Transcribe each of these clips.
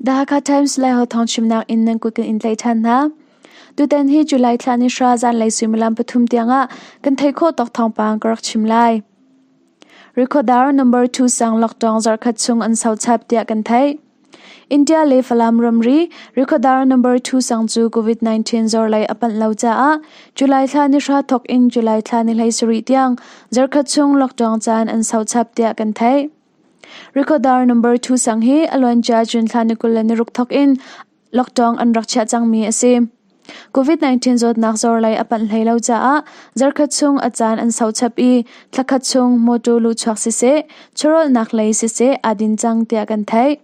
Dhaka Times le ho thong chimnak in nan kut kan in tlaih ṭhan hna. Tutan hi July thla ni hra zanlei suimilam pathum tiangah kan thei kho tok thong pang ka rak chim lai. Recordar number 2 sang lockdown zarkhat chung an sau chap tia kan thei. India le Falam ramri rekhawdar number two sang cu COVID-19 zorlei a panh lo caah July thla ni hra thawk in July thla ni hlei sarih tiang zarkhat chung lockdown caan an sau chap tiah kan theih. Rekhawdar number two sang hi a luancia June thla ni kul le ni ruk thawk in lockdown an rak chiah cangmi a si. COVID-19 zawtnak zor lei a panh hlei lo caah zarkhat chung a caan an sau chap i thlakhat chung mawtaw luhchuak siseh, chawrawlnak lei siseh aa din cang tiah kan theih.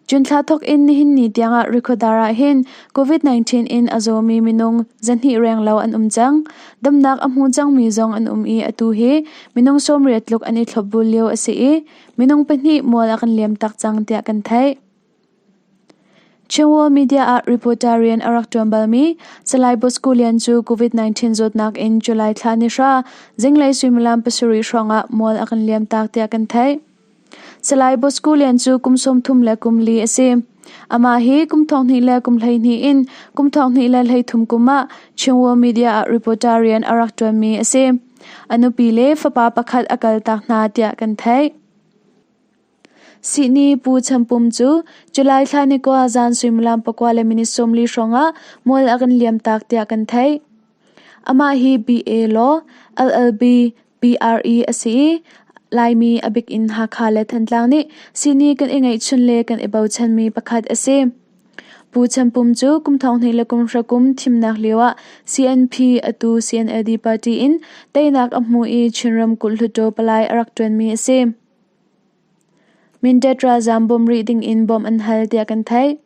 June thla thok in nihin ni tiangah Rikodar ah hin COVID-19 in a zawmi minung zahnih reng lo an um cang. Damnak a hmu cangmi zong an um i atu hi minung sawmriat tluk an i thlop bul lio a si i minung pahnih mual a kan liam tak cang tiah kan theih. Cheuo media ah reporter rian a rak ṭuan balmi Salai Bosco Lian cu COVID-19 zawtnak in July thla ni hra zinglei suimilam pasarih hrawngah mual a kan liamtak tiah kan theih. Salai Bosco Lian cu kum sawmthum le kum li a si. Amah hi kum thonghnih le kum hleihnih in kum thonghnih le hleithum kum ah Cheuo media ah reporter rian a rak ṭuanmi a si. A nupi le fapa pakhat a kaltak hna tiah kan theih. Sihni Pu Cham Pum cu July thla ni kua zan suimilam pakua le minute sawmli hrawngah mual a kan liamtak tiah kan theih. Amah hi BA law LLB PRE a si i Laimi a bik in Hakha le Thantlang nih sihni kan i ngeihchun le kan i bochanmi pakhat a si. Pu Cham Pum cu kum thonghnih le kum hrakum thimnak lioah CNP atu CNLD party in teinak a hmu i Chin ramkulh hluttaw palai a rak ṭuanmi a si. Mindat ralzaam bawm rih dingin bawmh an hal tiah kan theih.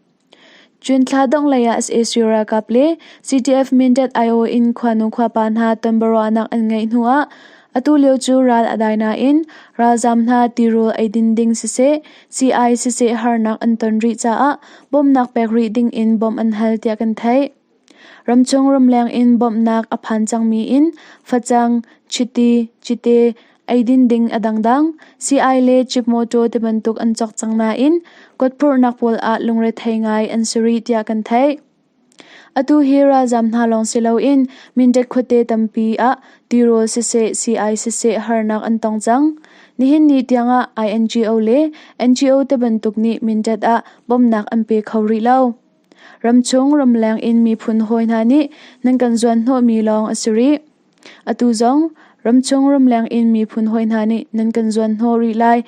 June thla dongh leiah sac ralkap le CDF Mindat aiawh in khuanu khuapa hna tonbiaruahnak an ngeih hnuah atu lio cu ral a dai nain ralzaam hna tirawl eidin ding siseh, sii siseh harnak an ton rih caah bawmnak pek rih dingin bawmh an hal tiah kan theih. Ramchung ramleng in bawmhnak a phan cangmi in facang, chiti, cite, eidin ding a dangdang, sii-ai le cip mawṭaw ti bantuk an cawk cang nain kawtphurhnak pawl ah lungrethei ngai an si rih tiah kan theih. Atu hi ralzam hna lawng si loin Mindat khuate tampi ah tirawl siseh sii-ai siseh harnak an tong cang. Nihin ni tiangah INGO le NGO te bantuk nih Mindat ah bawmnak an pe kho rih lo. Ramchung ramleng in miphun hawi hna nih nan kan zuanhnawhmi lawng a si rih. Atu zong ramchung ramleng in miphun hawi hna nih nan kan zuanhnawh rih lai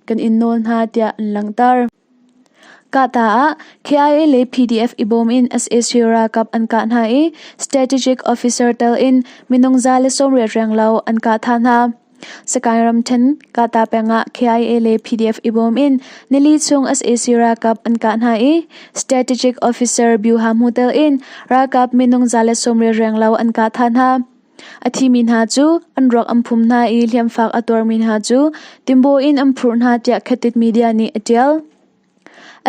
kan in nawl hna tiah an langhter. Kahta ah KIA le PDF i bawm in sac ralkap an kah hna i Strategic Officer tel in minung za le sawm riat reng lo an kah tha hna. Sakaing ramṭhen Kata peng ah KIA le PDF i bawm in nili chung sac ralkap an kah hna i Strategic Officer Byuha Hmu telh in ralkap minung za le sawmriat reng lo an kah tha hna. A thimi hna cu an ruak an phum hna i hliamfak a tuarmi hna cu timbaw in an phurh hna tiah Khatit media nih a ṭial.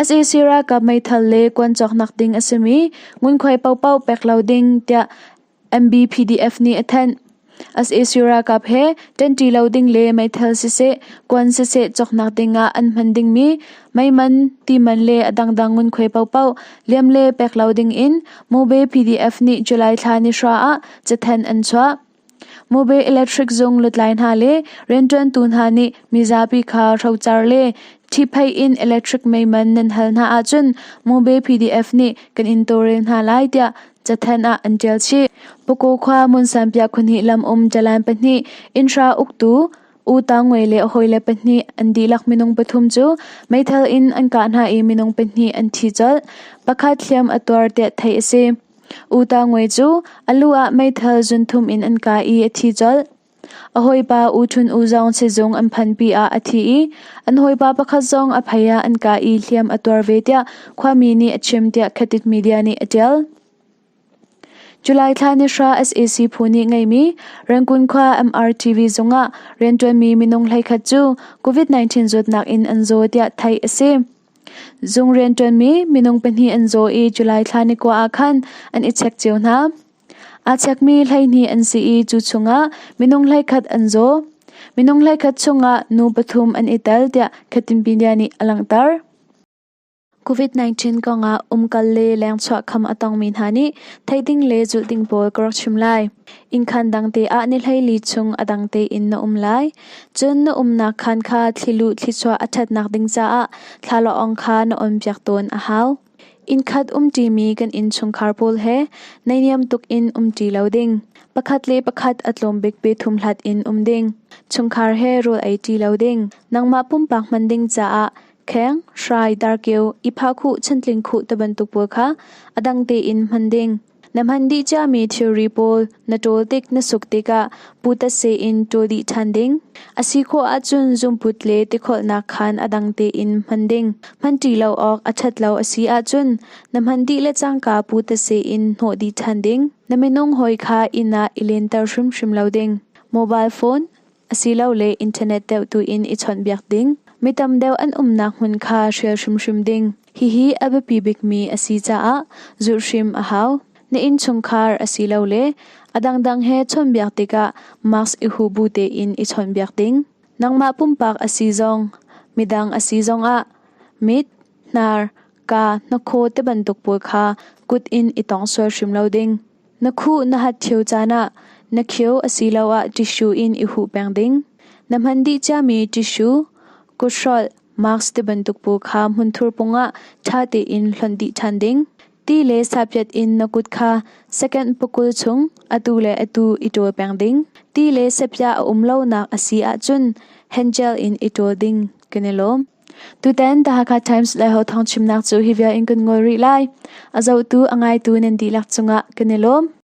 sac ralkap meithal le kuan cawknak ding a simi ngunkhuai paohpaoh pek lo ding tiah MBPDF nih a thanh. Sac ralkap he ṭanṭi lo ding le meithal siseh, kuan siseh cawknak dingah an hman dingmi meiman, timan le a dangdang ngunkhuai paohpaoh liam le pek lo dingin Mube PDF nih July thla ni hra ah cathanh an chuah. Mube Electric zung lutlai hna le rianṭuantu hna nih mizapi kha rocar le Ṭhiphei in electric meiman nan hal hna ahcun Mube PDF nih kan in tawlrel hna lai tiah cathanh ah an ṭial chih. Pakaw khua Munsanpiah khunhnih lam um Jalan pahnih innhra uktu U Tang Ngwe le hawile pahnih an dihlak minung pathum cu meithal in an kah hna i minung pahnih an thi colh. Pakhat hliam a tuar tiah theih a si. U Tang Ngwe cu a lu ah meithal zunthum in an kai i a thi colh. A hawipa U Ṭhun U zong sizung an phanpi ah a thi i an hawipa pakhat zong a phei ah an kah i hliam a tuar ve tiah khuami nih a chim tiah Khatik media nih a ṭial. July thla ni hra sac phu nih ngeimi Rangkun khua MRTV zungah rianṭuanmi minung hleikhat cu COVID-19 zawtnak in an zaw tiah theih a si. Zung rianṭuanmi minung pahnih an zaw i July thla ni kua ah khan an i chek cio hna. Aa chekmi hleihnih an si i cu chungah minung hleikhat an zaw. Minung hleikhat chungah nu pathum an i tel tiah Khatimpindia nih a langhter. COVID-19 kongah umkal le lengchuah kham a tongmi hna nih theih ding le zulh ding pawl ka rak chim lai. Innkhan dang te ah ni hleili chung a dang tein na um lai. Cun na umnak khaan kha thli lu thlichuah a ṭhatnak ding caah thlala ong kha na on piak tawn a hau. Innkhat umṭimi kan innchungkhar pawl he neihniam tuk in um ṭi lo ding. Pakhat le pakhat a tlawm bik biathum hlat in um ding. Chungkhar he rawl ei ṭi lo ding. Nangmah pumpak hman ding caah kheng, hrai, darkeu, i phah khuh, chantling khuh te bantuk pawl kha a dang tein hman ding. Na hman dih ciami thilri pawl na ṭawl tik na suk tikah putate in ṭawl dih ṭhan ding. A si khawh ahcun zungput le tikholhnak khaan a dang tein hman ding. Hmanṭi lo awk a ṭhat lo a si ahcun na hman dih le cangka putate in hnawh dih ṭhan ding. Na minung hawi kha inn ah i lenter hrimhrim lo ding. Mobile phone Asilole internet deuh tuin i chawnhbiak ding, mi tam deuh an umnak hmun kha hrial hrimhrim ding, hihi a biapi bikmi a si caah zulh hrim a hau. Na innchungkhar asilole a dangdang he chawnhbiak tikah mask i hu bu tein i chawnhbiak ding. Nangmah pumpak a si zong, midang a si zongah mit, hnar, kaa, hnakhaw ti bantuk pawl kha kut in i tong sual hrim lo ding. Na khuh na hat ṭhio caan ah na khio asiloah ṭissue in i huh peng ding. Na hman dih ciami ṭissue, kuthrolh, mask tibantuk paw kha hmunthur pungah ṭha tein hlonh dih ṭhan ding. Ti le sapyat in na kut kha second pakul chung atu le atu i ṭawl peng ding. Ti le sapya a um lonak a si ahcun hengel in i ṭawl ding kan i lawm. Tutan The Hakha Times le ho thawng chimnak cu hi vial in kan ngol rih lai. A zohtu a ngaitu nan dihlak cungah kan i lawm.